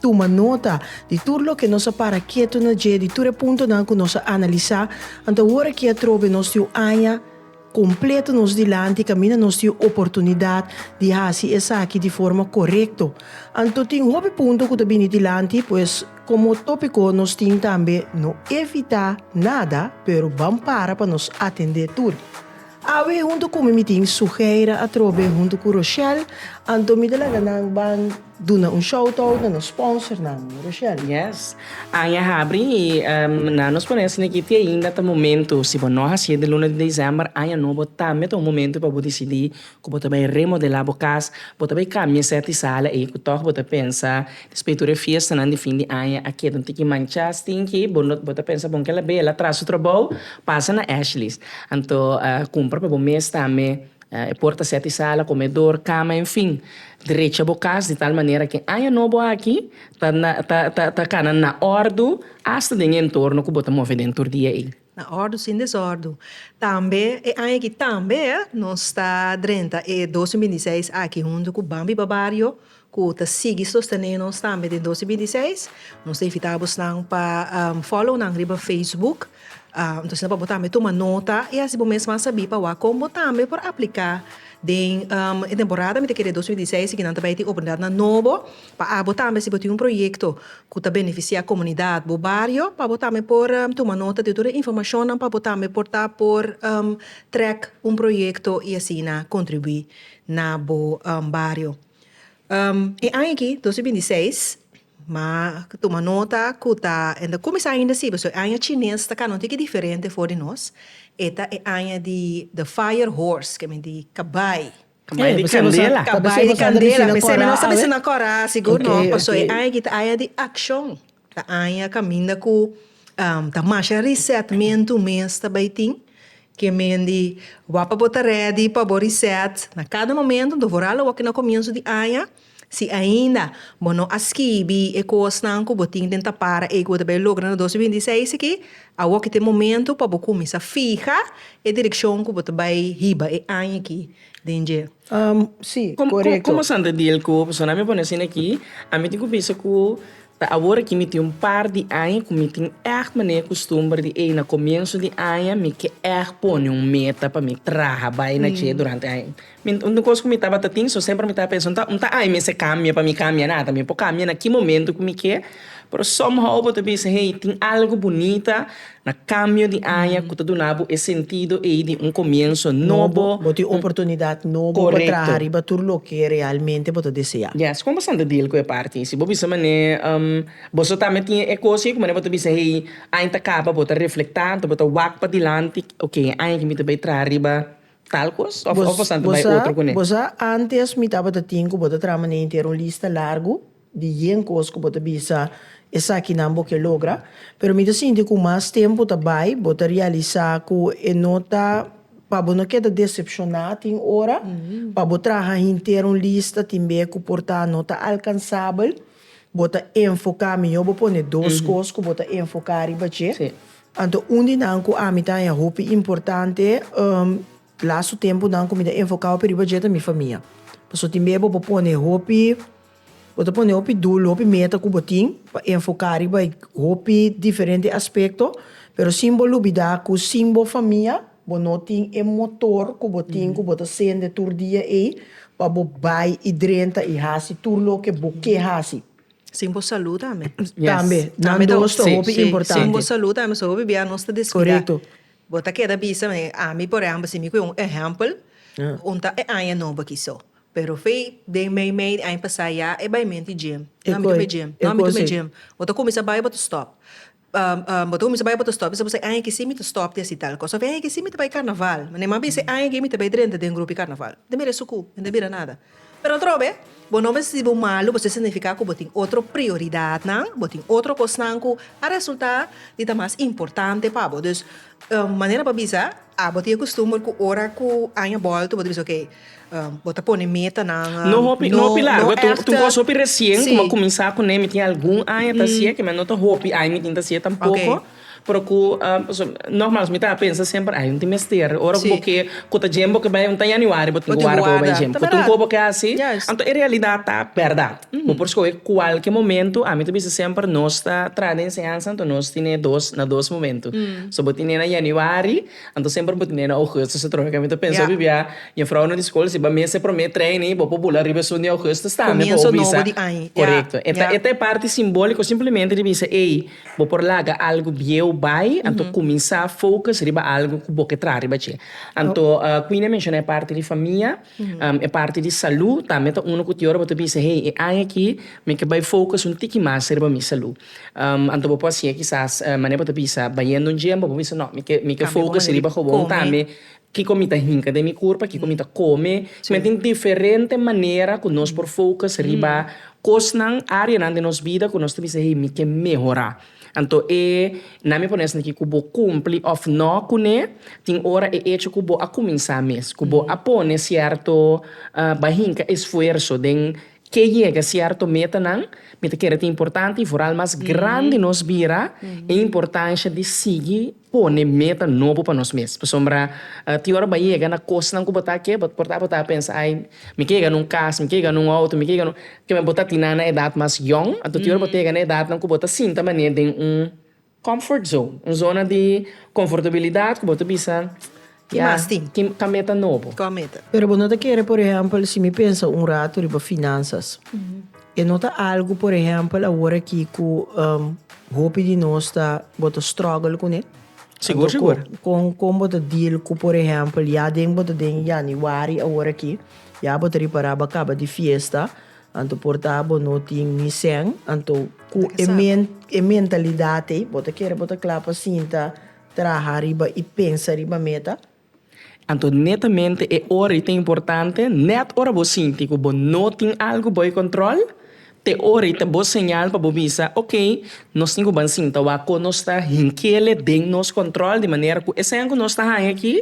Tuma nota di tur loke nos a para ketu na dje, di tur e puntonan ku nos a analisá. Ant awor aki atrobe nos tin un aña kompleto nos dilanti, kaminda nos tin un oportunidat di hasi esaki di forma korekto. Anto tin hopi punto ku ta bini dilanti, pues komo tópiko nos tin tambe no evitá nada, pero ban para pa nos atendé tur. Awe huntu ku mi mi tin suheira atrobe huntu ku Rochelle anto mi ta laga nan ban duna un shoutout na nos sponsornan Rochelle. Yes. Aña habri i nan nos pone esaki di ti ainda ta momento si bo no hasié den luna di desèmber aña nobo tambe ta un momento pa bo disidí ku bo ta bai remodelá bo kas, bo ta bai kambia sèt di sala ei ku tòg bo ta pensa Spiritu di e fiestanan di fin di aña a keda un tiki manchá, stinky. Bo no ta pensa bon ke el a bela atras su trabou? Pasa na Ashley's. Anto kumpra pa bo mes tambe e porta sèt di sala, komedor, kama, enfin. Drecha bo kas di tal manera ke aña nobo aki ta kana na òrdu asta den e entorno ku bo ta move den tur dia ei. Na ordu sin desordu. Tambe e aña aki tambe nos ta drenta e dos mil binti seis aki huntu ku Bambi Babario ku ta sigui sostené nos tambe den dos mil binti seis. Nos ta invitá abosnan pa follow nan riba Facebook. Entonces asina pa bo tambe tuma nota i asina bo mes a sabí pa wak kon bo tambe por apliká den e temporada mi ta kere dos mil binti seis si kinan ta bai tin oportunidatnan nobo. Pa abo tambe si bo tin un proyekto ku ta benefisiá komunidat bo bario pa bo tambe por tuma nota di tur e informashonnan pa bo tambe por ta por trèk un proyekto i asina kontribuí na bo bario. E aña aki dos mil binti seis ma tuma nota ku ta e ta kuminsá ainda sibi so e aña chines ta kaba un tiki diferente for di nos e ta e aña di The Fire Horse ke men di kabai. Cambaya di candela. Cambaya di candela p'esei mi no sa bisa na cora sigur no paso e aña aki ta aña di accion ta aña caminda cu ta masha resetmento mes ta bay tin ke mendi wak pa bo ta ready pa bo reset na cada momento dor voral awor ke na comienzo di aña. Si ainda bo no a skibi e kosnan ku bo tin den ta para ei ku bo ta bai logra na dos mil binti seis aki, awor ki ta e momentu pa bo kuminsá fiha e direkshon ku bo ta bai hiba e aña aki den dje. Am, si, korekto. Komo Sandra Diel ku, Persona mi a pone asina aki, ami tin ku bisa ku Ta awor aki mi tin un par di aña ku mi tin èg manera kustumber di ei. Na komienso di aña mi ke èg pone un meta pa mi traha bai na dje durante aña. Mi un kos ku mi tabata tin so semper mi tabata pensa unda unda aña mester kambia pa mi kambia nada. Mi por kambia na ki momento ku mi ke. Pero somehow bo ta bisa hey tin algu bunita Na kambio di aña ku ta duna bo e sentido ei di un komienso nobo. Bo tin un oportunidat nobo pa traha riba tur loke realmente bo ta deseá. Yes, kon bo san ta deal ku e parti? Si bo bisa manera bo so tambe tin e kos ei ku manera bo ta bisa hey aña ta kaba bo ta reflektá enton bo ta wak pa dilanti, oke e aña aki mi ta bai traha riba tal kos òf bo san ta bai otro kuné? Bo sa antes mi tabata tin ku bo ta traha manera inter un lista largu? di yen cos cu bo ta bisa, esakinan bo ke logra, pero mi ta sinti cu mas tempo ta bay, bo ta realisa cu e no ta, pa bo no keda decepciona tin ora, pa bo traha hinter un lista tin be cu por ta no ta alcansabel, bo ta enfoca, miyor bo pone dos cos cu bo ta enfoca riba dje. Anto un di nan cu ami ta haña hopi importante lastu temponan cu mi ta enfocado ape riba dje ta mi famia, pasobra tin be bo por pone hopi. Bo ta pone hopi dulu, hopi meta ku bo tin pa enfoká riba e hopi diferente aspekto, pero sin bo lubidá ku sin bo famia bo no tin e motor ku bo tin ku bo ta sende tur dia ei pa bo bai i drenta i hasi tur loke bo ke hasi. Sin bo salú tambe. Tambe. Nan dos ta hopi importante. Sin bo salú tambe pasobra hopi bia nos ta deskuidá. Bo ta keda bisa, ami por ehèmpel si mi ku e un ehèmpel un ta e aña nobo aki so Pero fe den meimei di aña pasá ya e bai menti dje. No a mi ta me dje. No a mi ta me dje. Bo ta kuminsá bai bo ta stòp. Bo ta kuminsá bai bo ta stòp. Mi sa bo esei aña aki sí mi ta stòp di hasi tal kos. Òf e aña aki sí mi ta bai karnaval. Mane mas bien esei aña aki mi ta bai drenta den grupi karnaval. Mi ta mira e sukú. Mi no ta bira nada. Pero atrobe bo no mester sibi bo malu pasobra esei signifiká ku bo tin otro prioridatnan, bo tin otro kosnan ku a resultá di ta mas importante pa bo. Dus manera pa bisa, abo tin e kustumber ku ora ku aña bòlta bo ta bisa, okey. bo ta pone metanan. No hopi, no hopi largo. Ta un kos hopi resien ku mi a kuminsá kuné. Mi tin algun aña ta hasié kiman. No ta hopi aña mi tin ta hasié tampoko. Pero ku, pasobra nòrmal mi tabata pensa semper, ai, no tin mester. Ora ku bo ke ku ta djemba ku e bai un ta yaniwari, bo tin ku warda pa bo bai djemba. Bo tin ku bo ke hasi. Anto e realidat ta bèrdat. Bo por skohe kualke momentu. Ami ta bisa semper nos ta traha den enseñansa, anto nos tine dos, na dos momentu. So bo tine na yaniwari. Anto semper bo tene na Augustus e trohe kami ta pensa bibia jufrounan di skol si bo a mester prome training bo por bula riba esun di Augustus tambe por bisa korekto e ta e parti simboliko simplemente di bisa ey bo por laga algu bieu bai anto kuminsá focus riba algu ku bo ke traha riba dje anto Queenie a menshona e parti di famia. E parti di salú tambe ta unu ku tin ora bo ta bisa, Hey, e aña akí mi ke bai focus un tiki mas riba mi salú. Anto bo por hacié kisas mané bo ta bisa bayendo un gym, bo por bisa no, mi ke mi ke focus riba hobon tambe, kiko mi ta hinka den mi kurpa, kiko mi ta kome. Mi tin diferente manera ku nos por focus riba kosnan, áreanan den nos bida ku nos ta bisa hey mi ke mehorá. Anto e na mi pone esaki ku bo kumpli òf nò kuné, tin ora e echo ku bo a kuminsá mes, ku bo a pone sierto bai hinka esfuerso den ke yega sierto metanan, mi ta kere tin importante y vooral mas grandi nos bira e importansha di sigui. Pone meta nobo pa nos mes, pasobra tin ora bo a yega na kosnan ku bo ta ke, bo por ta bo ta pensa, ai, mi ke yega na un kas, mi ke yega na un outo, mi ke yega na un, kiba bo ta tin nan na edat mas yòn, anto tin ora bo ta yega na edatnan ku bo ta sinta manera den un comfort zone, un zona di konfortabilidat ku bo ta bisa. Ki mas tin? Ki ta meta nobo? Kon meta? Pero bo no ta kere por ehempel si mi pensa un ratu riba finansas. E no ta algu por ehempel awor aki ku hopi di nos ta bo ta struggle kuné. Sigur sigur. Kon kon bo ta deal ku por ehempel ya den bo ta den Januari awor aki ya bo ta ripara bo a kaba di fiesta anto por ta bo no tin ni sèn anto ku e mentalidat ei bo ta kere bo ta kla pa sinta Traha riba i pensa riba meta. Anto netamente e ora i ta importante, nèt ora bo sinti ku bo no tin algu bou e kòntròl, t'e ora i ta bo señal pa bo bisa, ok, nos tin ku ban sinta wak kon nos ta hinkele den nos kòntròl di manera ku esei ku nos ta haña aki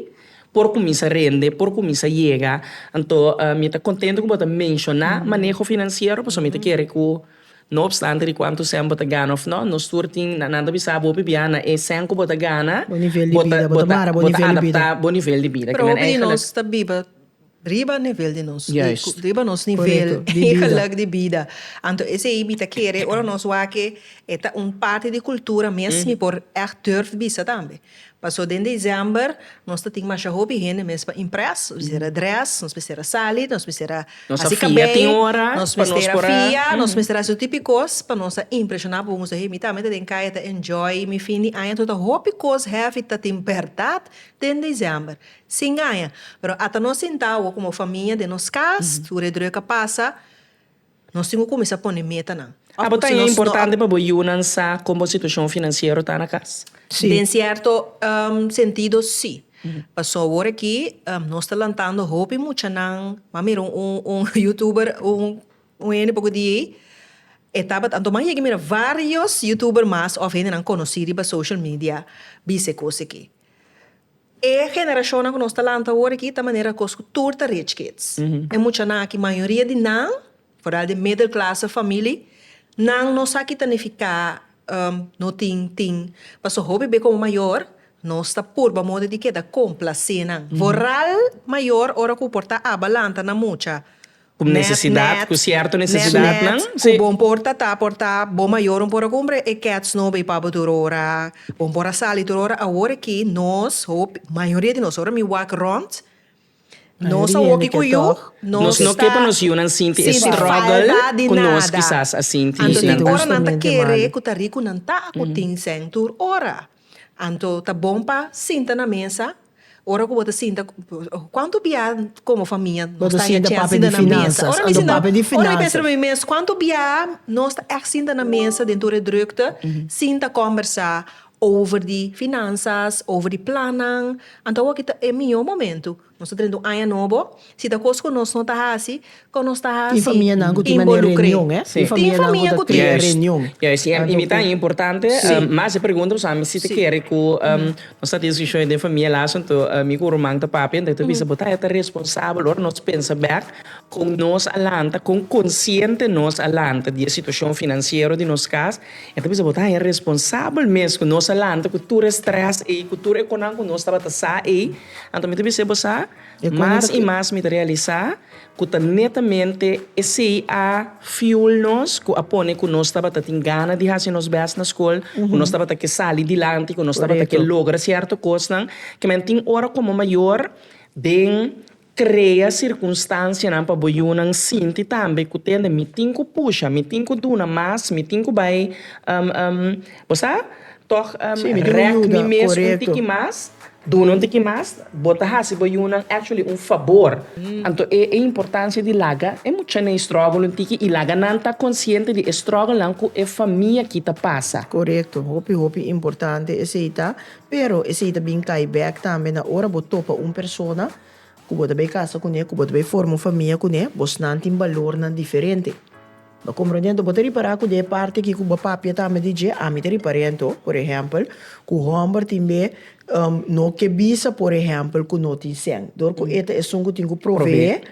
por kuminsá rende, por kuminsá yega. Anto mi ta kontento ku bo ta menshoná maneho finansiero pasobra mi ta kere ku No opstante di cuantu cen bo ta gana of no, nos tur tin, na, nan ta bisa abo p'bia na e cen cu bo ta gana, Bo nivel di bida, bo ta mara bo nivel di bida. bo ta adapta bo nivel di bida. Propi di nos ta biba riba nivel di nos, Juist. di riba nos nivel Correcto, di bida. di geluk di bida. Anto esey mi ta kere ora nos wak e, e ta un parti di cultura mes, mi por echt durf bisa tambe. Paso den December nos ta tin masha hopi hende mes pa impress, nos mester a dress, nos mester a sali, nos mester a hasi cabello, nos mester a fia, nos mester a hasi tur tipo di cos pa nos a impresiona bobo nos ta hei mi tambe ta den caya ta enjoy mi fin di aña anto ta hopi cos heavy ta tin berdad den December si ngaña pero ata nos sinta awo como famia den nos cas tur e druk a pasa Nos tin ku kuminsá pone metanan. Abo ta importante pa bo yunan sa kon bo situashon finansiero ta na kas? Sí. Den sierto sentido sí. Pasobra awor aki nos ta lantando hopi muchanan. M'a mira un youtuber un hende poco di ey e tabata anto m'a yega mira varios youtuber mas of hendenan conoci riba social media bisa e cosaki. E generashonnan ku nos ta lanta awor aki ta manera kos ku tur ta rich kids. E muchanan aki mayoria di nan, foral di e middel klase famili, nan no sa kita nifiká no tin tin. Pasobra hopi be komo mayor nos ta purba modi di keda komplasé nan. Foral mayor ora ku por ta aba lanta nan mucha Ku nesesidat, ku sierto nesesidatnan. Ku bon por ta ta, por ta. Bo mayornan por a kumpra e kèts no bay pa bo tur ora. Bon por a sali tur ora. Awor aki nos, hopi, mayoria di nos, ora mi wak rònt, nos a woki ku yu, nos no ke pa nos yunan sinti e struggle ku nos kisas a sinti. Anto tin oranan ta kere ku ta riku nan ta ku tin sèn tur ora. Anto ta bon pa sinta na mesa, ora ku bo ta sinta, kuantu biaha komo famia nos ta haya chèn sinta na mesa? Ora mi sinta, ora mi pensa na mi mes, kuantu biaha nos ta ègt sinta na mesa den tur e drùkte, sinta kòmbersá over di finansas, over di plannan, anto awor aki ta e mihó momentu. Nos ta drenta un aña nobo. Si ta cos cu nos no ta haci, con nos ta haci? Tin famianan cu tin mane reunion, eh? Tin famianan cu ta tin e reunion. Juist, juist. Y mi ta importante mas e pregunta pasobra ami si ta kere cu nos ta discusion den famia las anto ami cu Roman ta papia anto e ta bisa bo ta e ta responsabel ora nos pensa bek con nos a lanta, con consciente nos a lanta di e situacion financiero di nos cas. E ta bisa bo ta e responsabel mes cu nos a lanta cu tur e stress ey, cu tur e conan cu nos tabata sa ey. Anto mi ta bisa bo sa, mas i mas mi ta realisa ku ta netamente esei a fuel nos ku a pone ku nos tabata tin gana di hasi nos bèst na skol, ku nos tabata ke sali dilanti, ku nos tabata ke logra sierto kosnan. Kimin tin ora komo mayor den krea sirkunstansianan pa bo yunan sinti tambe ku tende mi tin ku pusha, mi tin ku duna mas, mi tin ku bai bo sa. Tòg rèk mi mes un tiki mas. Duna un tiki mas. Bo ta hasi bo yunan actually un fabor. Anto e importancia di laga e muchanan struggle un tiki y laga nan ta consciente di e strugglenan cu e famia aki ta pasa. Corecto, hopi hopi importante esey ta, pero esey ta bin cay back tambe na ora bo topa un persona cu bo ta bay casa cune, cu bo ta bay forma un famia cune, bosnan tin balornan diferente. Bo komprendentu? Bo ta ripará ku den e parti aki ku bo papia tambe di dje, ami ta riparentu, por ehèmpel, ku hòmber tin be no ke bisa, por ehèmpel, ku no tin sèn. Dor ku e ta esun ku tin ku proveé,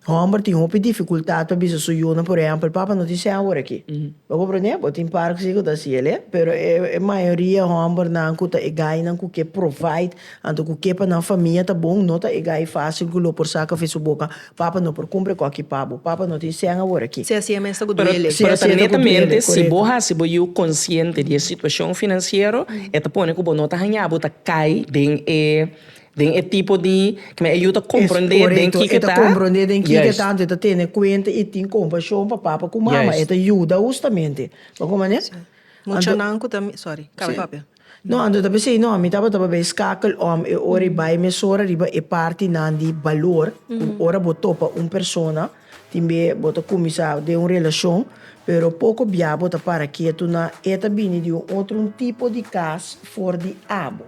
hòmber tin hopi difikultat pa bisa su yunan, por ehèmpel, Papa, no tin sèn awor aki. Bo komprendé? Bo tin parkes aki ku ta hasiel, e. Pero e mayoria hòmbernan ku ta e gainan ku ke provide Anto ku ke pa nan famia ta bon, no ta e gai fásil ku lo por sa kafé su boka, Papa no por kumpra kòki pa bo, Papa no tin sèn awor akí. Si así e mester ku duele. Pero ta netamente si bo hasi bo yiu konsiente di e situashon finansiero, e ta pone ku bo no ta hañá bo ta kai den e den e tipo di kima e yiu ta komprondé den kiko e ta. Korekto, e ta komprondé den kiko e ta, anto e ta tene kuenta i tin kompashon pa papa ku mama, e ta yuda hustamente. Bon ku manera? Muchanan ku ta, sorry, kaba papia. No, anto ta pens'ei, no, mi tabata bay skakel om e ora i bay mesora riba e partinan di balor, ku ora bo topa un persona, tin be bo ta kuminsá den un relashon, pero poko bia bo ta para ketu na e ta bini di un otro un tipo di kas for di abo.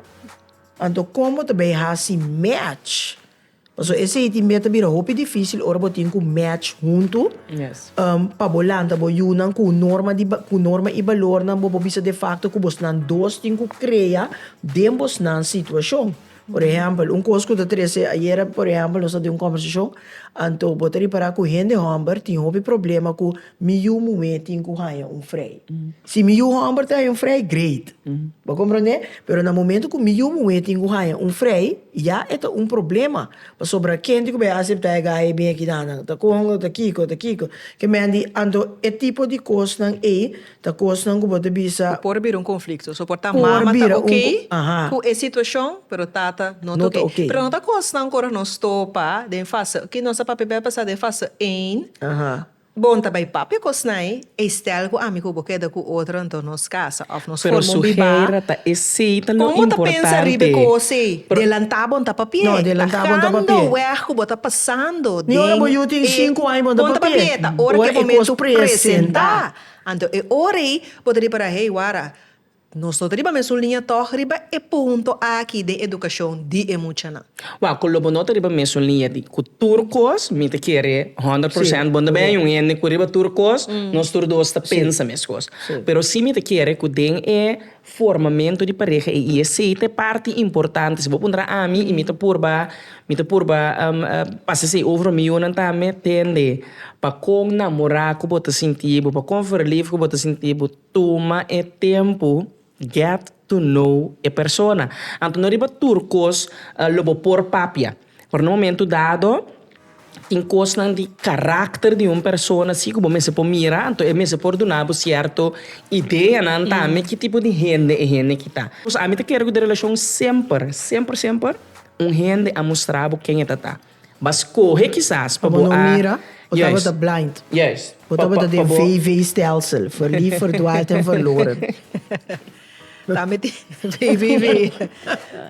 Anto kon bo ta bay hasi match? Pasobra esei tin mei ta bira hopi difísil ora bo tin ku match huntu pa bo lanta bo yunan ku norma di ku norma i balornan bo bo bisa de fakto ku bosnan dos tin ku krea den bosnan situashon. Por ehèmpel un kos ku ta trese ayera por ehèmpel nos ta den un kòmbersashon anto bo ta ripará ku hende hòmber tin hopi problema ku Mi yu muhé tin ku haña un frei. Si mi yu hòmber ta haña un frei, great. Bo komprondé? Pero na momentu ku mi yu muhé tin ku haña un frei, ya e ta un problema. Pasobra kende ku bai aseptá e gaya ei bin aki nan, nan ta konga, ta kiko, ta kiko. Ke men di, anto e tipo di kosnan ei ta kosnan ku bo ta bisa. Ku por bira un konflikto. So por ta mama ta okei ku e situashon, pero tata no ta okei. Pero no ta kosnan ku ora nos topa den fase, ki nos a papia bai a pasá den fase ein, Bon ta bai papia ku Osnai, ei stèl ku ami ku bo keda ku otro anto nos kasa òf nos forma un bibá. Kon bo ta pensa riba e kos ei? Delantá bon ta papié, ta gando wèg ku bo ta pasando den e bon ta papié, ta ora ku e momentu presentá. Anto e ora ei bo ta ripará, hei wara. Nos no ta riba mesun liña tòg riba e punto aki den edukashon di e muchanan. Wak ku lo bo no ta riba mesun liña di ku tur kos, mi ta kere honderd persènt bo no ta bini un hende ku riba tur kos, nos tur dos ta pensa meskos. Pero si mi ta kere ku den e formamentu di pareha ei i esei ta e parti importante. Si bo puntra ami i mi ta purba mi ta purba pasa esei over rum mi yunan tambe tende pa kon namorá ku bo ta sinti bo, pa kon verlief ku bo ta sinti bo. Tuma e tempu get to know e persona. Anto no riba tur cos lo bo por papia. Pero na momento dado tin cosnan di caracter di un persona si cu bo mester por mira anto e mester por duna bo cierto ideanan tambe ki tipo di hende e hende ki ta. Ami ta kere cu den relacion semper semper semper un hende a mustra bo ken e ta ta. Ba scohe kisas pa bo a. Bo tabata blind. Bo tabata den VV stelsel, verliefd, verdwaald en verloren. Ta met VVV.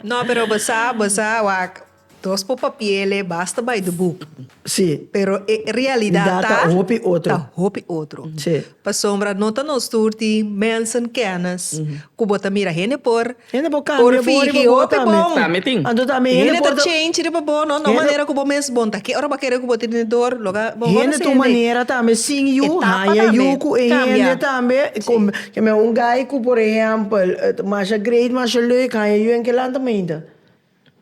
No, pero bo sa, bo sa, wak, dos por papiele basta by the book. Si. Pero e realidad ta. Ta hopi otro. Ta hopi otro. Si. Pasobra no ta nos tur tin mensen, kennis, ku bo ta mira hende por. Hende por cambia bo riba bo tambe. Por fiji, bo ta bon. Anto tambe hende por ta. Hende ta change riba bo, no? No manera cu bo mes bon ta. Ke ora bo a kere cu bo ta tene dor? Lo ga bo conoce hende. Hende ta un manera tambe sin yu. Etapa tambe. Haya yu cu e hende tambe. Cambia. Mi a un guy cu por ehempel ta masha great, masha leuk, haya yu en kilaantemente.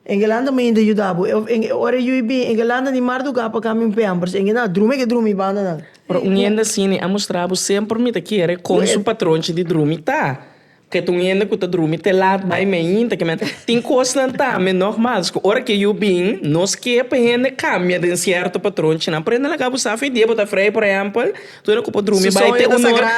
Engelanda mi inda yuda bo. Ora e yu i bin, engelanda di mardugá pa kami un pèmpers. Engen a drumi ke drumi banda nan. Pero un hende asini a mustra bo semper mi ta kere kon su patronchi di drumi ta. Ke ta un hende ku ta drumi te lat bai mainta ke men. Tin kosnan tambe nògmals ku ora ke yu bin, nos ke pa hende kambia den sierto patronchi nan. Prende laga bo sa afe dia bo ta afrei, por ehèmpel. Tur cu por drumi bay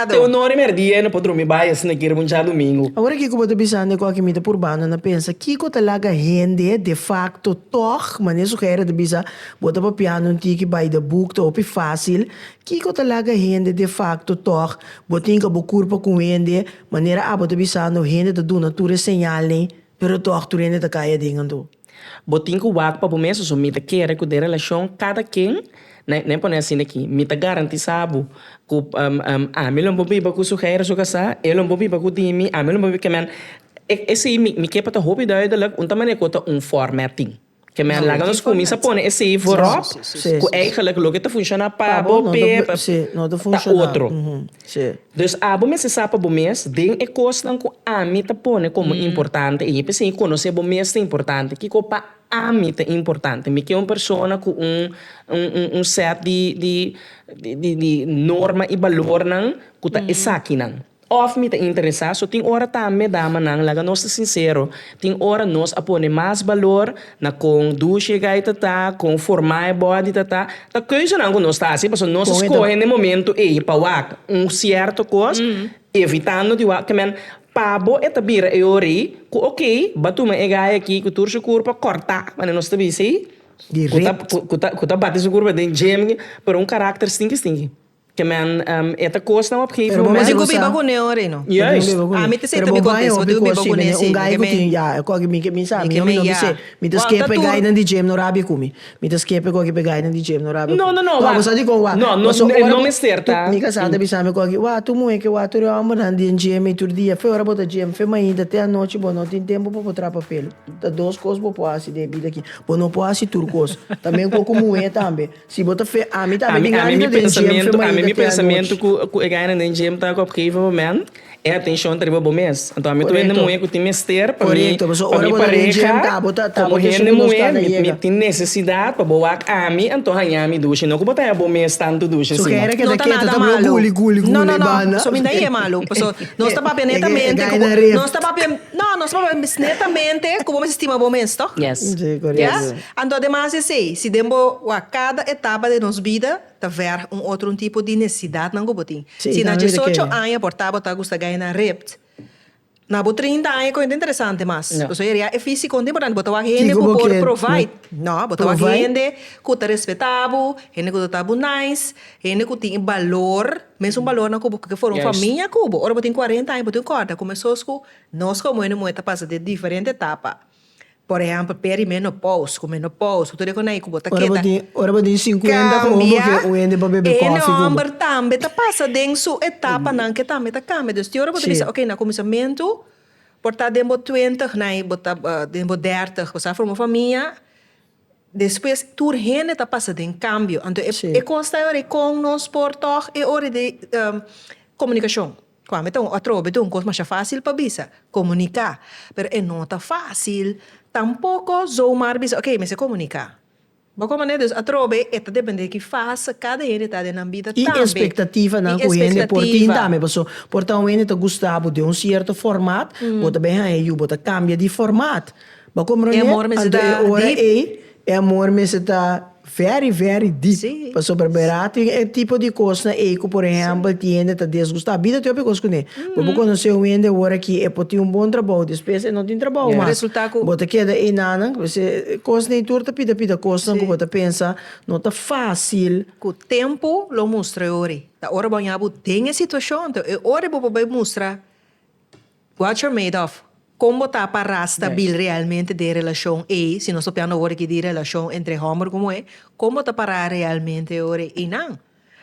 te un ora y merdia y no por drumi bay asina kier bo dja domingo. Awor aki cu bo ta bisan deko aki mi ta purbando na pensa kico ta laga hende de facto tog mane sugere ta bisa bo ta papiando un tiki by the book ta hopi facil kico ta laga hende de facto tog bo tinga bo curpa cu hende manera abo ta bisando hende ta duna tur e señalnan pero tog tur hende ta caya den anto. Bo tin ku wak pa bo mes so mi ta kere ku den relashon kada ken nan pone asin aki mi ta garantisá bo ku ami lo bo biba ku su hèi su kasá e lo bo biba ku di mi ami lo bo biba ku nan e si mi ke pa ta hopi duidelijk un ta manera ku ta un fòrme a tin ke men laga nos kuminsá pone e si voròp ku èigelik loke ta funshoná pa bo pe ta otro. Shi. Dus abo mester sa pa bo mes, den e kosnan ku ami ta pone komo importante, i p'esei konosé bo mes ta importante. Kiko pa ami ta importante? Mi ke un persona ku un un sèt di di di di norma i balornan ku ta esakinan. Òf mi ta interesá, so tin ora tambe, damanan, laga nos ta sinsero, Tin ora nos a pone mas balor na kon dushi e gaita ta, kon forma e body ta ta, ta keuzenan ku nos ta hasi pasobra nos a skohe n'e momento ei pa wak un sierto kos evitando di wak kemen pa bo e ta bira e ora ei ku okey ba tuma e gai aki ku tur su kur pa korta mane nos ta bisa ei ku ta ku ta bati su kur den gym pero un karakter stinki stinki. Pero bo mester gozá. Pero bo bai hopi cos schi bend'é un gai cu tin ya e cochi mi ke mi sa mi hopi no bis'é mi ta skeer p'e gainan di James no rabia cu mi mi ta skeer p'e cochi p'e gainan di James no rabia cu mi wak bo sa dicon wak paso ora cu mi casá ta bisa mi cochi wak tur muhé ke wak tur e hombernan den James tur dia fe ora bo ta James fe mainta te anochi bo no tin tempo pa bo trapa pelu ta dos cos bo por haci den e bida aki bo no por haci tur cos tambe un poco muhé tambe. Si bo ta fe, ami ta ami gana den djem fe maeda te anochi. Ku e gana den djem ta ku a geva bo men e atenshon ta riba bo mes. Anto ami ta hende muhe ku tin mester pa mi pareha komo hende muhe mi tin nesesidat pa bo wak ami anto haña mi dushi no ku bo ta haña bo mes tantu dushi asina. No ta nada malu no no no so mi na ye malu paso nos ta papia netamente ku bo nos ta papia no nos ta papia netamente ku bo mester stima bo mes tok ya. Anto demas esei, si den bo wak kada etapa den nos bida ta verg un otro un tipo di necesidadnan ku bo tin. Si na diesocho aña por ta bo ta gusta gai na ript, na bo trinta aña kon e ta interesante mas. Pasobra e ria e físico un ta importante, bo ta wak hende ku por provide. No, bo ta wak hende ku ta respeta bo, hende ku ta trata bo nice, hende ku tin e balor, mesun balornan ku bo ke forma famia ku bo. Ora bo tin cuarenta aña bo tin kòrda ku mesosku nos komo hende muhé ta pasa den diferente etapa. Por ehempel peri menopous ku menopous ku tur e konai ku bo ta keda cambia e hende bo tin ora bo tin sinkuenta ku homber ke un hende por bebe kofi ku bo. E homber tambe ta pasa den su etapanan ke tambe ta cambia dus tin ora bo ta bisa okay na kuminsamentu por ta den bo twintig na bo ta den bo dèrtig bo sa forma famia despues tur hende ta pasa den cambio anto e cos ta e ora kon nos por tog e ora di komunikashon. Cu ami ta un atrobe ta un cos masha facil pa bisa, comunica. Pero e no ta facil tampoco zomar bisa ok mester comunica. Bo con mane? Dus atrobe e ta depende di ki fase cada hende ta den nan bida tambe. Y expectativanan cu hende por tin tambe paso por ta un hende ta gusta bo den un cierto format bo ta bay haya yu bo ta cambia di format. Bo comprende? Anto e ora ey e amor mester ta. Very very deep. Sí. Pasobra bera tin e tipo di kosnan ei ku por ehèmpel tin hende ta desgustá. Bida ta hopi kos kuné. Bo por konosé un hende ora ki e por tin un bon trabou, despues e no tin trabou mas. Resultá ku. Bo ta keda ei nannan. P'esei e kos nei tur ta pida pida kosnan ku bo ta pensa no ta fásil. Ku tempu lo mustra e ora ei. Ta ora bo haña bo den e situashon, ta e ora ei bo por bai mustra. Watcher Madoff, Kon bo ta pa ra stabil realmente den e relashon ei, si nos ta piando awor aki di relashon entre hòmber ku muhé, kon bo ta pa ra realmente ora einan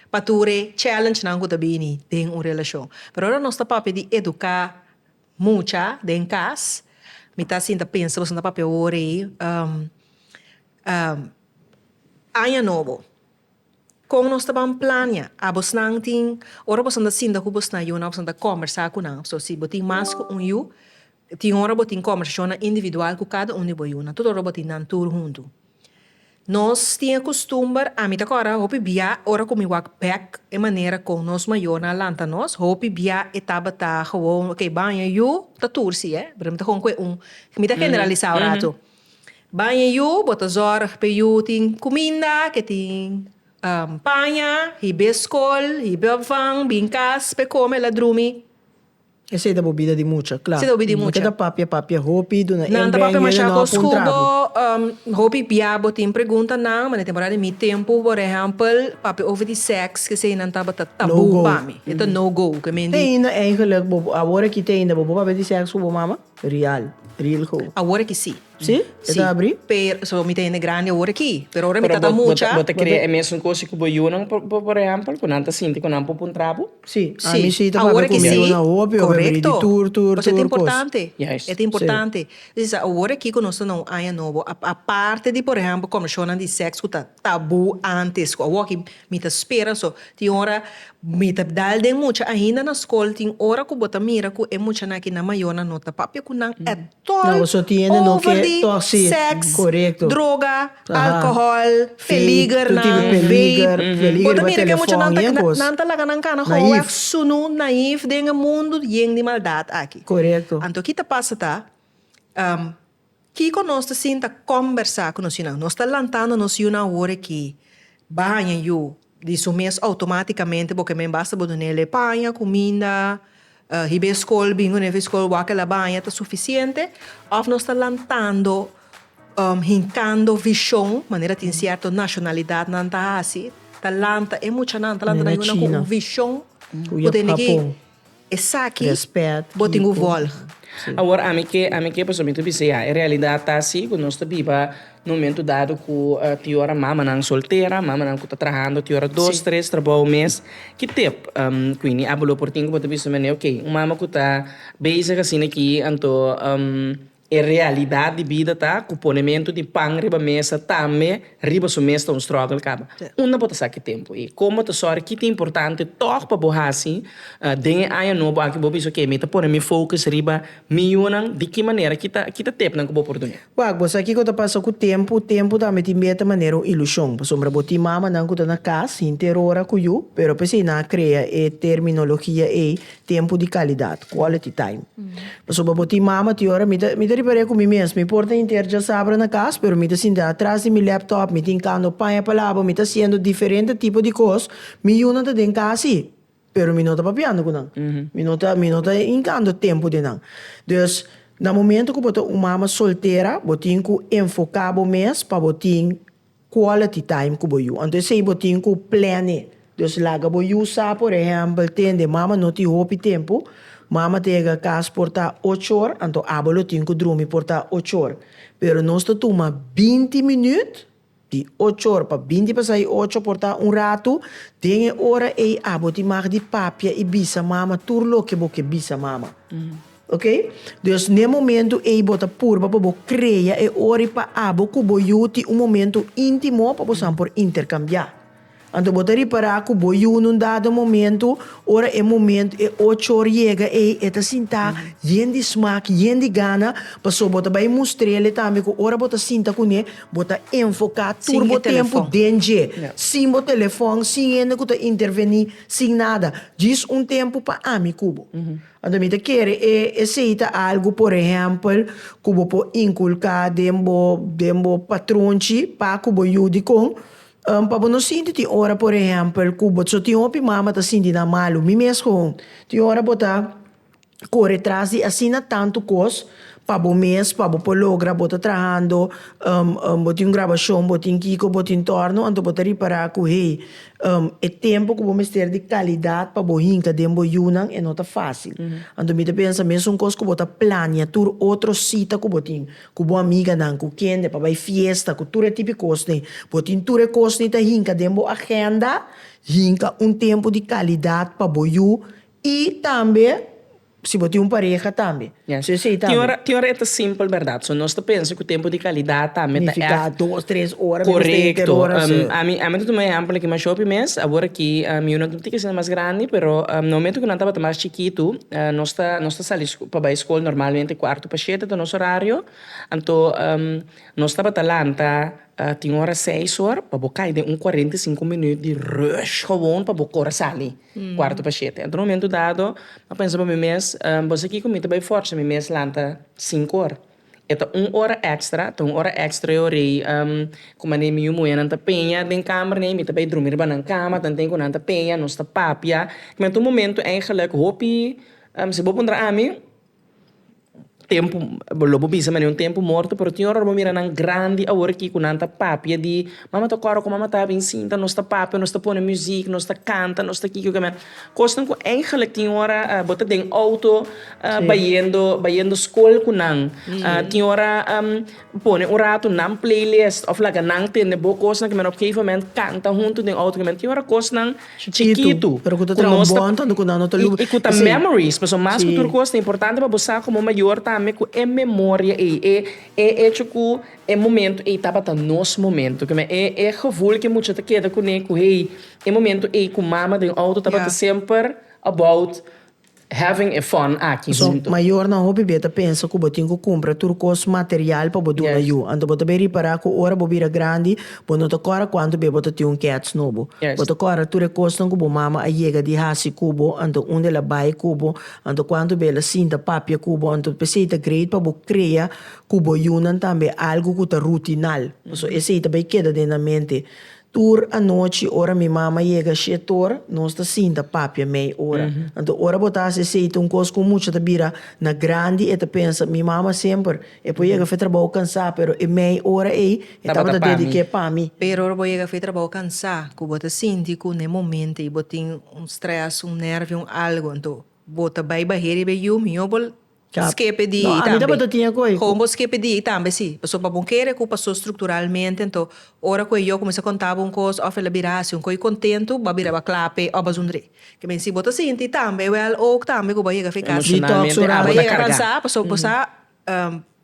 pa tur e challenge-nan ku ta bini den un relashon? Pero ora nos ta papia di eduká mucha den kas, mi ta sinta pensa boso no ta papia awor ei aña nobo. Kon nos ta ban plania? Abosnan tin, ora boso ta sinta ku bosnan yunan, boso ta kòmbersá ku nan. So si bo tin mas ku un yu, tin ora bo tin kòmbersashonnan individual ku kada un di bo yunan, tur ora bo tin nan tur huntu. Nos tin e kustumber, ami ta kòrda hopi bia ora ku mi wak bèk e manera kon nos mayornan a lanta nos, hopi bia e tabata gewoon, okay, baño yu ta tur si, eh, pero mi ta kon ku e un, mi ta generalisá ora tu. Baña yu, bo ta zorg p'e yu tin cuminda, ke tin paña, hib'é scol, hib'é afan, bin cas p'e come la drumi. Esey ta bobida di mucha, cla. Esey ta bobida di mucha. Nan ta papia papia hopi, duna Nan ta papia masha cos cu bo hopi bia bo tin pregunta nan, ma den temporada di mi tempo por ehempel papia over di sex, esey nan tabata tabú pa mi. E ta no go, ke mindi. Te ainda eigenlijk bo, awor aki te ainda bo bo papia di sex cu bo mama? Real. Real go. Awor aki si. Si? E ta abri? Pero, so mi ta hende grandi awor aki. Pero ora mi tata mucha. Bo ta kere e mesun cos cu bo yunan por ehempel, cu nan ta sinti cu nan pupu un trapo? Si. Si. Mi si ta papia cu mi yunan hopi, hopi abri di tur, tur, tur cos. Pasobra e ta importante. Juist. E ta importante. Awor aki cu nos ta na un aña nobo, aparte di por ehempel comishonnan di sex cu ta. tabu antes cu awoki mi ta spera so tin ora mi ta dal den mucha ainda na scol tin ora cu bo ta mira cu e muchanan aki nan mayo nan no ta papia cu nan at all over di sex, droga, alcohol, peliger nan, vape, bo ta mira cu e muchanan ta nan ta laga nan cana hoeweg sunu naif den e mundo yen di maldad aki anto aki ta pasa ta Kiko nos ta sinta kòmbersá ku nos yunan? Nos ta lantando nos yunan awor aki baña yu di su mes outomátikamente bo ke men basta bo dun'ele paña, kuminda, hib'é skol bingo ne'e fu skol wak el'a baña ta sufisiente òf nos ta lantando hinkando vishon manera tin sierto nashonalidatnan ta hasi ta lanta e muchanan ta lanta nan yunan ku un vishon ku ta hini ki. Esaki bo tin ku volg. Awor ami ke ami ke pasobra mi ta bisa ya e realidad ta asi ku nos ta biba na un momento dado ku tin yo ora mamanan soltera mamanan ku ta trahando tin ora dos tres trabou mes ki tep kuindi a bolo por tin ku bo ta bisa mende okay un mama ku ta bezig asina aki anto. E realidat di bida ta ku ponementu di pan riba mesa tambe riba su mes ta un strògel kaba. Unda bo ta sa ki tempu ei? Kon bo ta sòri ki ta importante tòg pa bo hasi den e aña nobo aki? Bo bisa, Oke, mi ta pone mi fokus riba mi yunan. Di ki manera? Ki ta ki ta tepnan ku bo por duna? Wak, bo sa kiko ta pasa ku tempu? Tempu tambe tin bier ta manera un ilushon. Pasobra bo tin mamanan ku ta na kas hinter ora ku yu, pero p'esei nan a krea e terminologia ei Tempu di kalidat, quality time. Pasobra bo tin mama tin ora mi ta mi ta ripar'é ku mi mes, mi por ta hinter djasabra na kas pero mi ta sinta atras di mi laptop, mi tin kando paña pa laba, mi ta hasiendo diferente tipo di kos, mi yunan ta den kas ei pero mi no ta papiando ku nan, mi no ta mi no ta hinkando tempu den nan. Dus na momento ku bo ta un mama soltera bo tin ku enfoká bo mes pa bo tin Quality time cu bo yu. Anto esey bo tin cu plane. Dus laga bo yu sa, por ehempel, tende mama no tin hopi tempo, mama ta yega cas por ta ocho or, anto abo lo tin cu drumi por ta ocho or. Pero nos ta tuma binti minuut, di ocho or pa binti pa sai ocho por ta un ratu, den e ora ey abo tin mag di papia y bisa mama tur loke bo ke bisa mama. Ok, dus n'e momentu ei bo ta purba pa bo krea e ori pa abo ku bo yu tin un momentu íntimo pa bosan por interkambiá. Anto bo ta ripará ku bo yu na un dado momentu, ora e momentu, e ocho or yega ei, e ta sinta yen di smak, yen di gana, pasobra bo ta bai mustr'el tambe ku ora bo ta sinta kuné bo ta enfoká tur bo tempu den dje, sin bo telefòn, sin hende ku ta intervení, sin nada, djis un tempu pa ami ku bo. Anto mi ta kere e esei ta algu por ehèmpel ku bo por inkulká den bo den bo patronchi pa ku bo yu dikon pa bo no sinti tin ora por ehèmpel ku bo so tin hopi mama ta sinti nan malu mi mes koon tin ora bo ta kore tras di asina tantu kos pa bo mes pa bo por logra bo ta trahando bo tin un grabashon bo tin kiko bo tin tòrno anto bo ta ripará ku hey E tempu ku bo mester di kalidat pa bo hinka den bo yunan e no ta fásil. Anto mi ta pensa mes un kos ku bo ta plania tur otro sita ku bo tin, ku bo amiganan, ku kende, pa bai fiesta, ku tur e tipi kosnan. Bo tin tur e kosnan ta hinka den bo agenda, hinka un tempu di kalidat pa bo yu i tambe. Si bo tin un pareha tambe. So esey tambe. Tin ora, tin ora e ta simpel berdad. So nos ta pensa cu tempo di calidad tambe ta echt. Nifica dos, tres ora mi mester inter Correcto. ora. Am, ami, ami ta tuma ehempel aki mas shopi mes. Awor aki, am, yu no tin tika siña mas grandi, pero, am, na momento cu nan tabata mas chikitu, ah, nos ta, nos ta sali sco, pa bay scol normalmente cuarto pa shete ta nos horario. Anto, am, nos tabata lanta. Ta tin ora seis or pa bo kai den un cuarenta y cinco minüt di rush gewoon pa bo kore sali cuarto pa shete. Enton un momento dado a pensa pa mi mes, Bo sa kiko? Mi ta bai fòrsa mi mes lanta sinku or. E ta un ora èkstra, ta un ora èkstra ei ora ei ku mane mi yu muhénan ta peña den kamer ne'e, mi ta bai drumi riba nan kama, tanten ku nan ta peña, nos ta papia. Kua ta un momento, eigelijk, hopi, si bo puntra ami. tempu lo bo bisa mane un tempu morto pero tin ora bo mira nan grandi awor aki ku nan ta papia di mama ta kòrda ku mama ta bin sinta nos ta papia nos ta pone muzik nos ta kanta nos ta kiko kime'e kosnan ku eigenlik tin ora bo ta den outo bayendo bayendo skol ku nan tin ora. Pone un ratu nan playlist of laga nan tende bo kosnan ke men op gegeven moment kanta huntu den auto ke men tin ora kosnan chikitu pero ku ta traha un bon tante ku nan no ta lubri i ku ta memories pasobra mas ku tur kos ta importante pa bo sa komo mayor tambe ku e memoria ei e e echo ku e momento ei tabata nos momento ke men e e gevoel ke mucha ta keda kune ku hey e momento ei ku mama den auto tabata semper about. Having e fon aki huntu. Mayornan hopi bia ta pensa ku bo tin ku kumpra tur kos material pa bo duna yu. Anto bo ta bin ripará ku ora bo bira grandi bo no ta kòrda kuantu bia bo ta tin un kèts nobo. Bo ta kòrda tur e kosnan ku bo mama a yega di hasi ku bo, anto unda el a bai ku bo, anto kuantu bia el a sinta papia ku bo. Anto p'esei ta great pa bo krea ku bo yunan tambe algu ku ta rutinal. Paso esei ta bai keda den nan mente. Tur anochi ora mi mama yega shetor nos ta sinta papia mei ora. Anto ora bo ta hasi esei ta un kos ku mucha ta bira na grandi e ta pensa mi mama semper e por yega fe trabou kansa pero e mei ora ei e tabata dedik'é pa mi. Pero ora bo yega fe trabou kansa ku bo ta sinti ku n'e momento ei bo tin un stress un nervio un algu anto bo ta bai baheri be yu mior bo Skepe di ei tambe. Hobo skepe di ei tambe si. Paso pa bo kere ku paso strukturalmente nto ora ku e yo kuminsá konta bo un kos òf el a bira hasi un koi kontentu, bo a bira bo a klape òf bo a zundr'é. Ke men si bo ta sinti tambe wèl òuk tambe ku bo a yega afeká si. Emoshonalmente abo ta kargá. Bo a yega kansá pasobra bo sa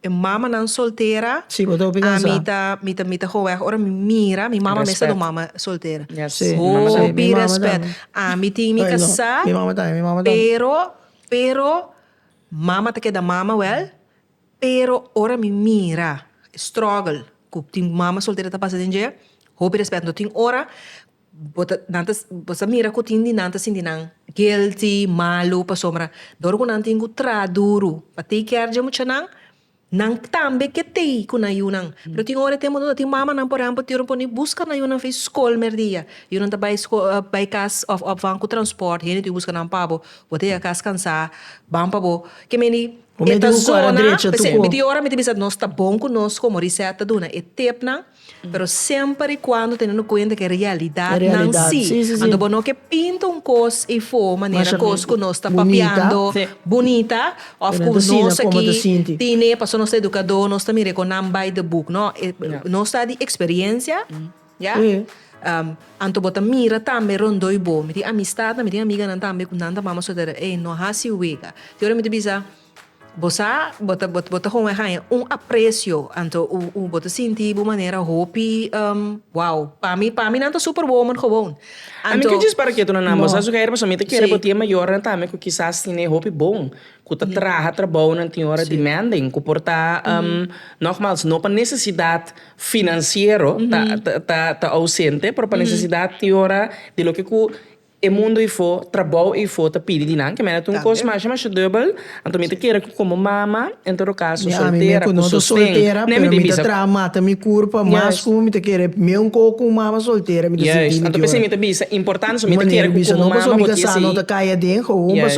e mamanan soltera, ami ta mi ta mi ta hoeg ora mi mira mi mama mes ta dor mama soltera. Hopi respèt. Ami tin mi kasá pero. Pero mama ta keda mama wel, pero ora mi mira e struggle ku tin mama soltera ta pasa den dje, hopi respet anto tin ora bo ta nan ta bo sa mira ku tin di nan ta sinti nan guilty, malu pasobra dor ku nan tin ku traha duru pa take care dje muchanan. Nan tambe ke tei ku nan yunan. Pero tin ora e tempu unda tin mamanan por ehempel tin ora por ni buska nan yunan fei skol merdia. Yunan ta bai skol bai kas of of van ku transport hende tin buska nan pa bo. Bo ta yega kas kansá ban pa bo. Ke meni e ta zona p'esei mi tin ora mi ta bisa nos ta bon ku nos komo Reset ta duna e tipnan. Pero semper i cuando tenendo cuenta ke realidadnan si. Anto bo no ke pinta un cos efo manera cos cu nos ta papiando bunita of cu nos aki tine pasobra nos ta educado nos ta mira e connan by the book no nos ta di experiencia ya anto bo ta mira tambe rondoi bo mi tin amistadnan mi tin amiganan tambe cu nan ta mama soltera ey no haci wega y ora mi ta bisa. Bo sa, bo ta bo ta hopi haña un aprecio, anto u u bo ta sinti bo manera hopi wow. Pa mi pa mi nan ta super woman gewoon. A mi ka djis para ketu nan, bo sa su ke ai pasobra mi ta kere bo tin e mayornan tambe ku kisas tine hopi bon, ku ta traha trabounan tin ora demanding, ku por ta nogmaals no pa nesesidat finansiero ta ta ta ausente, pero pa nesesidat tin ora di loke ku E mundo ifo, trabou ifo ta pidi di nan ke mester ta un kos masha masha dubel, anto mi ta kere ku komo mama, en todo kaso, soltera ku sosten, ne mi ta i bisa. Yes. Yes, anto p'esei mi ta bisa importante so mi ta kere ku komo mama bo di esei. Yes.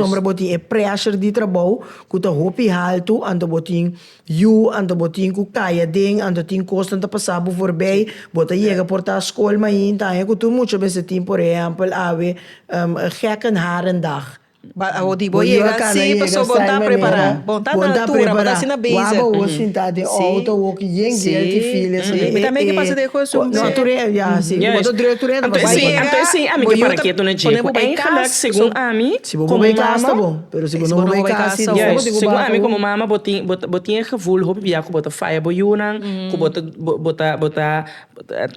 Yu, Anto bo tin ku kai aden, anto tin kosnan ta pasa bo forbei, bo ta yega por ta skol mainta aña ku tur mucha mester tin por ehèmpel awe Gekkenharendag. Bo yu a kana yega saime mera bon ta prepará wak bo wou sinta den outo a wou yen guilty feel esei. Bo ta drùk turente a pasa den outo a wou yen guilty feel esei. Anto esei ami ke para ketu na dje ku eingelik segun ami komo mama. Pero si bo no bai kasi no bo tin ku barco. Ami komo mama bo tin bo tin e gevoel hopi bia ku bo ta faya bo yunan ku bo ta bo ta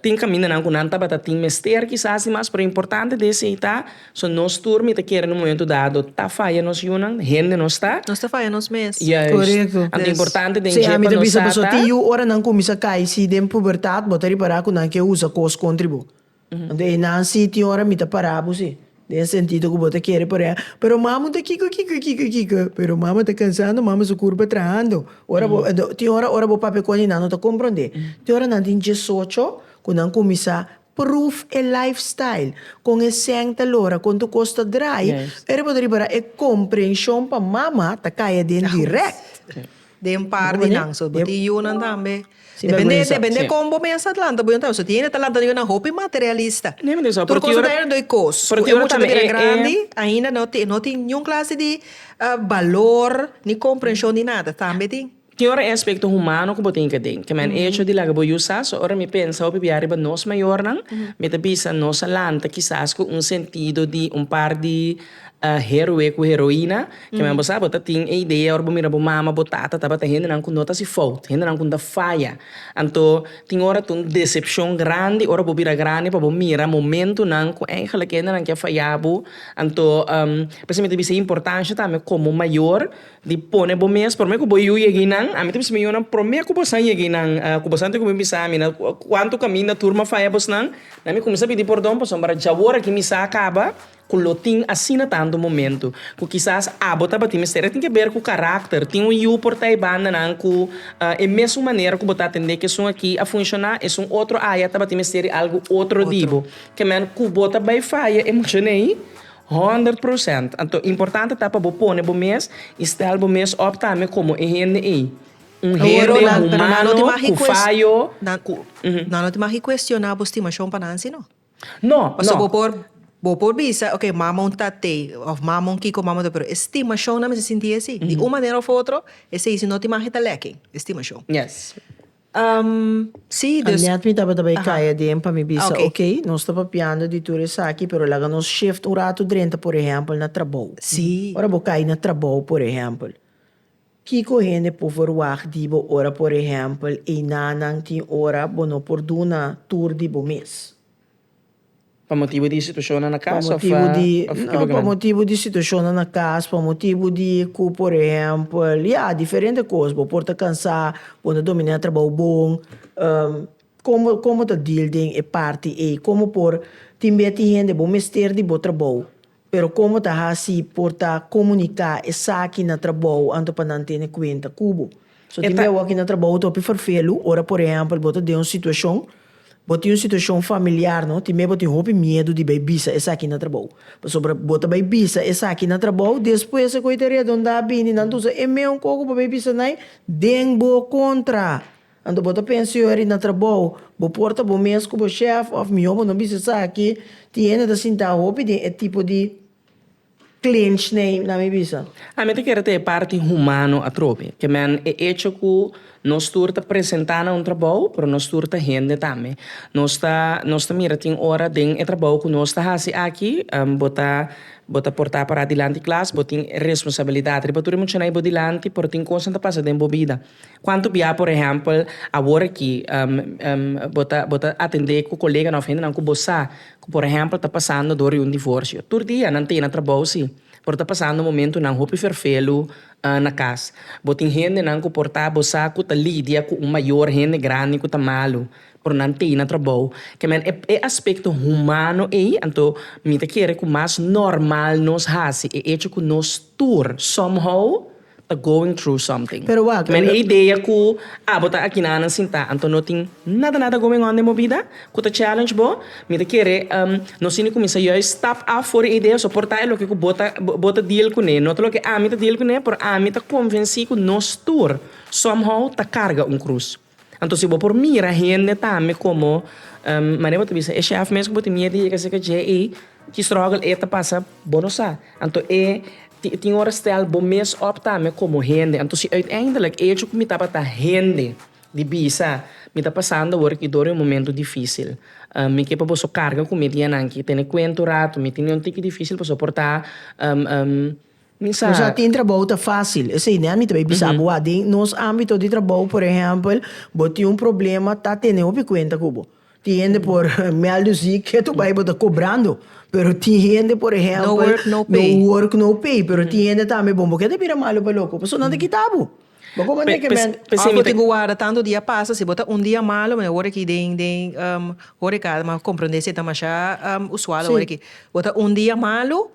tin kamindanan ku nan tabata tin mester kisas di mas pero importante di esei ta so nos tur mi ta kere na un momento dado ta faya nos yunan hende nos ta nos ta faya nos mes korekto anto importante den dje pa nos sa ta tin yu ora nan kuminsa kai si den pubertat bo ta ripara ku nan ke usa kos kontri bo. Anto eynan si tin ora mi ta para bo si, den e sentido ku bo ta kere parea, pero mamu ta kiko kiko e kiko e kiko, pero mama ta kansando, mama su kurpa trahando, ora bo tin ora ora bo papia konde nan no ta komprondé, tin ora nan tin diesocho ku nan kuminsá pruf e life style, kon e sèn ta lora, kon tu kos ta drai, pero bo ta ripará e komprenshon pa mama ta kaya den dirèkt. Den un par di nan so bo tin yunan tambe depende depende kon bo mester lanta bo yunan tambe so tin ene ta lanta yunan hopi materialista tur cosa ta dor kos ku e mucha ta bira grandi ainda no tin no tin niun clase di balor ni comprension di nada tambe tin. Tin ora e aspecto humano ku bo tin ke denke men e hecho di laga bo yu sa so ora mi pensa hopi bia riba nos mayornan mi ta bisa nos a lanta kisas ku un sentido di un par di A heroe ku heroina, kiman bo sa bo ta tin e idea ora bo mira bo mama, bo tata tabata hendenan ku no ta hasi fout, hendenan ku ta faya. Anto tin ora ta un desepshon grandi ora bo bira grandi pa bo mira momentunan ku eigentlik e hendenan ke faya bo. Anto por eso mi ta bisa e importansha tambe komo mayor di pone bo mes promé ku bo yu yegi nan, ami ta bisa mi yunan promé ku bo san yegi nan ku bo san ta kumbe bisa mi nan kuantu kaminda tur mi a faya bosnan, nan mi kuminsá pidi pordon pasobra djawor aki mi sa kaba. ku lo tin asina tantu momentu ku kisas abo tabatin mester. E tin ke ber ku karakter. Tin un yu por ta e bandanan ku e mesun manera ku bo ta atendé ku esun aki a funshoná, esun otro aya tabatin mester di algu otro di bo. Kèmen ku bo ta bai faya e muchanan ei honderd prosènt. Anto importante ta pa bo pone bo mes i stèl bo mes òp tambe komo e hende ei. Un hende humano ku fayo ku. Nan no tin magi kuestioná bo stimashon pa nan, sino. No, Pasobra bo no. por, bo por bisa, ok, mama un tat'é, of mama un kiko, mama un ta, pero e stimashon nan mester sinti esei. Di un manera of otro, esei si no tin mahe ta lèkking, e stimashon. Yes. Ehm, sí, dus. Anet mi tabata bai kaya aden pa mi bisa, ok, nos ta papiando di tur esaki, pero laga nos shift un ratu drenta, por ehèmpel, na trabou. Sí. Ora bo kai na trabou, por ehèmpel. Kiko hende por verwagt di bo ora por ehèmpel einanan tin ora bo no por duna tur di bo mes? Pa motibu di situashonnan na kas òf e bo grandi? Pa motibu di situashonnan na kas, pa motibu di ku por ehèmpel, ya, diferente kos, bo por ta kansá, bo no ta dominá trabou bon. Komo komo ta dil den e parti ei? Komo por tin beti hende bo mester di bo trabou? Pero como ta haci por ta comunica esaki na trabou anto pa nan tene cuenta cu bo? So tin bia awor ki na trabou ta hopi fervelu ora por ehempel bo ta den un situacion, bo tin un situacion familiar no, tin bia bo tin hopi miedu di bay bisa esaki na trabou. Pasobra bo ta bay bisa esaki na trabou, despues e coi ta redonda bini nan ta usa e meun coco bo bay bisa nai den bo contra. Anto bo ta pensa yo eri na trabou, bo por ta bo mes ku bo shèf òf mihó bo no bisa esaki, tin hende ta sintá hopi den e tipo di klinch nei, na mi bisa. A mi ta kere ta e parti humano atrobe, ke men e echo ku nos tur ta presentá na un trabou, pero nos tur ta hende tambe. Nos ta nos ta mira tin ora den e trabou ku nos ta hasi aki, bo ta bo ta portá pará dilanti klas, bo tin responsabilidat riba tur e muchanan i bo dilanti, pero tin kosnan ta pasa den bo bida Kuantu bia, por ehèmpel, awor aki bo ta bo ta atendé ku koleganan òf hendenan ku bo sa ku por ehèmpel ta pasando dor di un divorsio? Tur dia nan ta e na trabou si, pero ta pasando momentunan hopi ferfelu na kas. Bo tin hendenan ku por ta bo sa ku ta lidia ku un mayor, hende grandi ku ta malu, pero nan ta e na trabou. Ke men, e e aspekto humano ei, anto mi ta kere ku mas normal nos hasi e echo ku nos tur, somehow, ta going through something. Pero wak. Mende e idea ku, ah bo ta akinanan sintá, anto no tin nada nada going on den bo bida ku ta challenge bo. Mi ta kere nos tin di kuminsá juis stap af for e idea so por ta e loke ku bo ta bo ta deal kuné, no ta loke ami ta deal kuné, pero ami ta konvensí ku nos tur somehow ta karga un krus. Anto si bo por mira hende tambe komo manera bo ta bisa e chèf mes ku bo tin miet di yega sirka dje ei, ki strògel e ta pasa bo no sa. Anto e tin ora stèl bo mes op tambe komo hende. Anto si uiteindelik echo ku mi tabata hende di bisa mi ta pasando awor aki dor di un momentu difísil, mi ke pa boso karga ku mi dianan aki. Tene kuenta un ratu mi tin un tiki difísil pa soportá. Nos a tin trabou ta fásil. Esei nea mi ta bai bisa bo a. Den nos ámbito di trabou, por ehèmpel, bo tin un problema, ta tene hopi kuenta ku bo. Tin hende por mèldu ziek, ke tu bai bo ta kobrando. Pero tin hende, por ehèmpel. No work, no pay. No work, no pay. Pero tin hende tambe bon, bo ke ta bira malu pa loko? Pasobra nan ta kita bo. Bo komo anto ke men. Òf bo tin ku warda tantu dia pasa, si bo ta un dia malu, mane wòrdu aki den den horeka, mi a komprondé si e ta mashá usual awor aki. Bo ta un dia malu.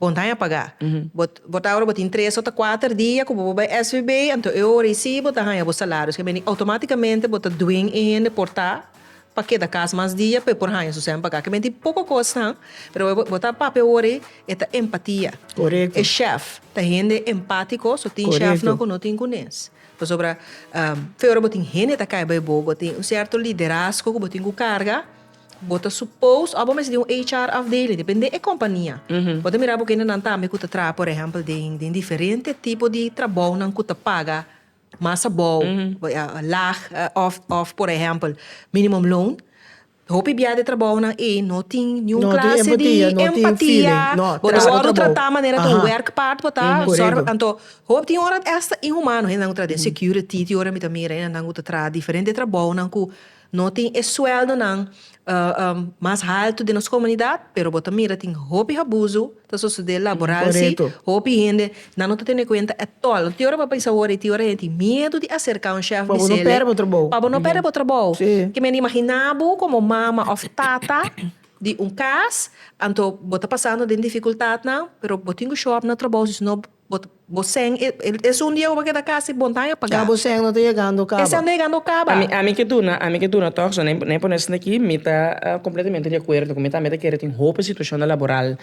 Bon ta haña pagá. Bo ta ora bo tin tres ota kuater dia ku bo por bai SVB, anto e ora eisí bo ta haña bo salarios ke bini outomátikamente bo ta dwing e hende por ta pa keda kas mas dia pa e por haña su sèn pagá. Ke menti poko kosnan, pero bo ta papia e ora ei, e ta empatia. E shèf ta hende empátiko, so tin shèfnan ku no tin kunes. Pasobra fe ora bo tin hende ta kai bai bo, bo tin un sierto liderazgo ku bo tin ku karga, Bo ta supposed or bo mester tin un HR afdeling, depende e kompania. Bo ta mira bo kendenan tambe ku ta traha por ehèmpel den den diferente tipo di trabounan ku ta paga mas abou, lag of of por ehèmpel minimum loan. Hopi bia di e trabounan ei no tin niun klase di empatia, bo ta wòrdu tratá manera ta un wèrk paard bo ta, sòrg anto hopi tin ora esta inhumano, hendenan ku ta traha den security tin ora mi ta mira, hendenan ku ta traha diferente trabounan ku No tin e sueldonan mas haltu den nos komunidat, pero bo ta mira tin hopi habuzu ta sosodé laboral si, hopi hende nan no ta tene kuenta etol. Tin ora bo a pensa awor ei, tin ora hende tin miedu di aserká un shèf di sele pa bo no pèrdè bo trabou. Ke mende imaginá bo komo mama òf tata di un kas, anto bo ta pasando den difikultatnan, pero bo tin ku show up na trabou si no Bo bo sèn e esun di Yehova ke ta kasi bon ta haña pagá. Ya bo sèn no ta yegando kaba. Esei a no yegando kaba. Ami ami ke duna ami ke duna tòg so no no hay por no esente aki mi ta completamente de acuerdo ku mi tambe ta kere tin hopi situacionnan laboral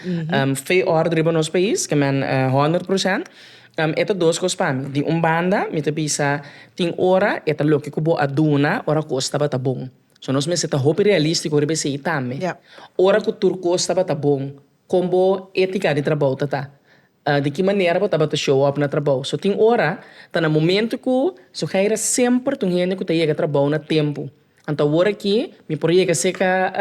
fe òrdu riba nos pais ke men honderd procent e ta dos kos pa mi di un banda mi ta bisa tin ora e ta loke ku bo a duna ora kos tabata bon so nos mester ta hopi realístiko riba esei tambe ora ku tur kos tabata bon. Kon bo etika di trabou ta ta? Di ki manera bo tabata show up na trabou? So tin ora ta na momento ku Suheira semper ta un hende ku ta yega trabou na tempu. Anto awor aki mi por yega seka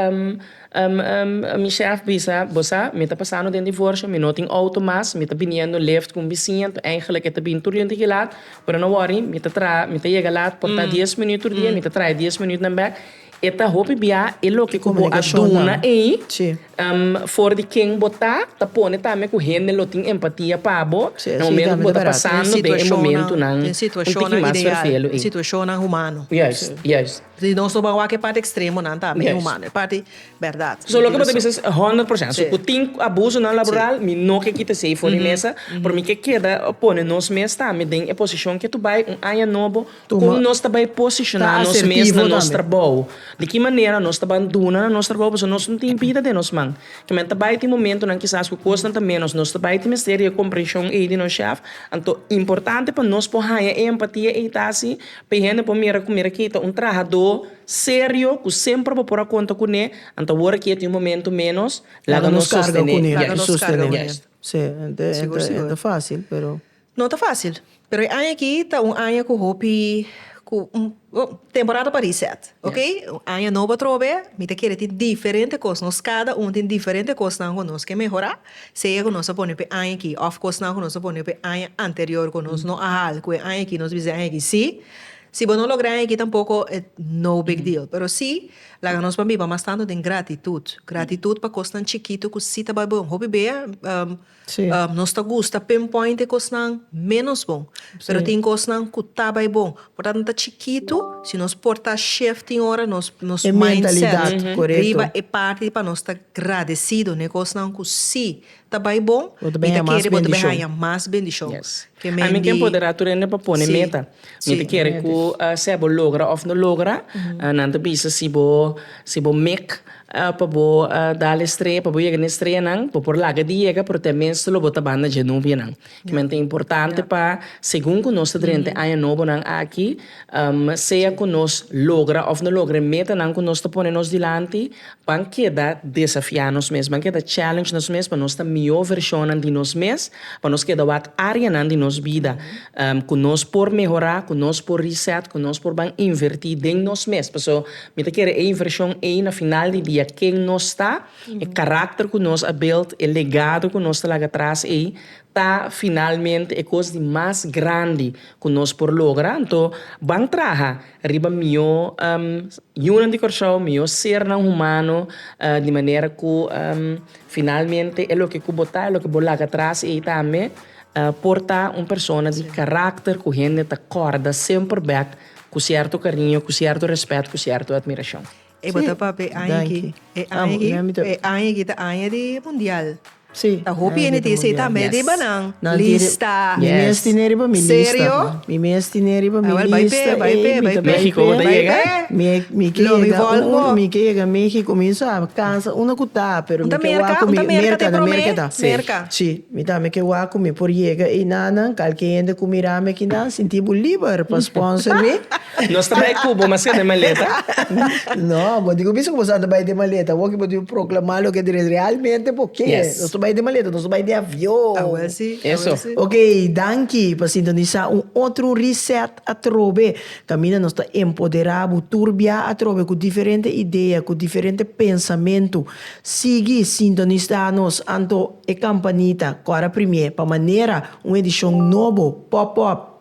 mi shèf bisa, bo sa mi ta pasando den divorsio, mi no tin outo mas, mi ta biniendo lift ku un bisiña, anto eigenlijk e ta bini tur lente ki lat, pero no wòri mi ta traha, mi ta yega lat por ta dies minüt tur dia, mi ta traha e dies minütnan bèk. E ta hopi biaha e loke ku bo a duna ei. For di ken bo ta, ta pone tambe ku hende lo tin empatia pa bo na momentu ku bo ta pasando den e momentunan un tiki mas ferfelu ei. Juist, juist. Juist. So loke bo ta bisa es honderd por sènt. So ku tin abusonan laboral mi no ke kita esei for di mesa, pero mi ke keda pone nos mes tambe den e posishon ke tu bai un aña nobo. Kon nos ta bai posishoná nos mes na nos trabou? Di ki manera nos ta ban duna na nos trabou? Pasobra nos no tin bida den nos man. Kimen ta bai tin momentunan kisas ku kosnan ta ménos, nos ta bai tin mester di e komprenshon ei di nos shèf. Anto importante pa nos por haña e empatia ei ta si pa e hende por mira ku mira kei ta un trahadó serio ku semper bo por a konta kuné, anto awor ki e ta un momentu ménos, laga nos sostené. Laga nos karga kuné. Yes. Sigur sigur. No ta fácil, pero e aña aki ta un aña ku hopi ku temporada pa reset, oke. Un aña nobo atrobe, mi ta kere tin diferente kos, nos kada un tin diferente kosnan ku nos ke mehorá, sea ku nos a pone p'e aña aki òf kosnan ku nos a pone p'e aña anterior ku nos no a hal, ku e aña aki nos bisa e aña aki sí. Si bo no logra e aña aki tampoko it no big deal, pero sí laga nos pa biba mas tantu den gratitut, gratitut pa kosnan chikitu ku sí ta bai bo hopi bia. Sí. Um, nos ta gusta pinpoint e cosnan menos bon. Pero Sí. tin cosnan cu ta bai bon. Por tanto, ta chikitu, si nos por ta shift tin ora nos, nos E mindset. mentalidad, coreto. Riba e parti pa nos ta gradecido n'e cosnan cu si ta bai bon, Bo ta mi bin ta haya mas kere bo ta bin bendicion. haya mas bendicion. Yes. Ke men Ami di- ken poder a tur hende pa pone Sí. meta. Mi ta kere ku sea bo logra òf no logra, nan ta bisa si bo si bo mik pa bo dal e estrella pa bo yega na e estrellanan bo por laga di yega pero te mes lo bo ta banda dje novianan kimen ta importante pa segun ku nos ta drenta aña nobonan aki sea ku nos logra òf no logra e metanan ku nos ta pone nos dilanti. Ban keda desafiá nos mes, ban keda challenge nos mes pa nos ta mihó vershonnan di nos mes, pa nos keda wak áreanan di nos bida ku nos por mehorá, ku nos por reset, ku nos por ban invertí den nos mes. Paso mi ta kere e invershon ei na final di dia ken nos ta, e karakter ku nos a build, e legado ku nos ta laga atras ei ta finalmente e kos di mas grandi ku nos por logra. Anto ban traha. riba mió yunan di Kòrsou, mió sernan humano, di manera ku finalmente e loke ku bo ta, e loke bo laga tras ei tambe por ta un persona di karakter ku hende ta kòrda semper bèk ku sierto kariño, ku sierto rèspèt, ku sierto admirashon. E bata papia e aña aki. E aña aki, e aña aki ta aña di mundial. Si. Ta hopi hende tin esei tambe di banan lista. Mi mes tine riba mi lista. Serio? Mi mes tine riba mi lista. Bai p'e, bai p'e, bai p'e. Mexico bo ta yega? Mi ke yega un, mi ke yega Mexico. Mi sa kansa unda ku ta, pero mi ke wak ku mi. Merka, na Merka ta. Merka. Si. Mi tambe ke wak ku mi por yega ei nanan. Kalke hende ku mirami aki nan sinti bo liber pa sponsor mi. Nos ta bai cu bo, mas que den maleta. No, bo tin cu bisa cu bo sa ta bai den maleta. Awor cu bo tin proclama loke ta res, realmente bo ke. Yes. Nos ta bai den maleta, nos ta bai den avion. Awor si, awor si. Eso. Ok, danki pa sintonisa un otro reset atrobe. Caminda nos ta empodera bo tur bia atrobe cu diferente idea, cu diferente pensamentu. Sigui sintonisa nos anto e campanita cu ora primier pa manera un edicion nobo, pop-up.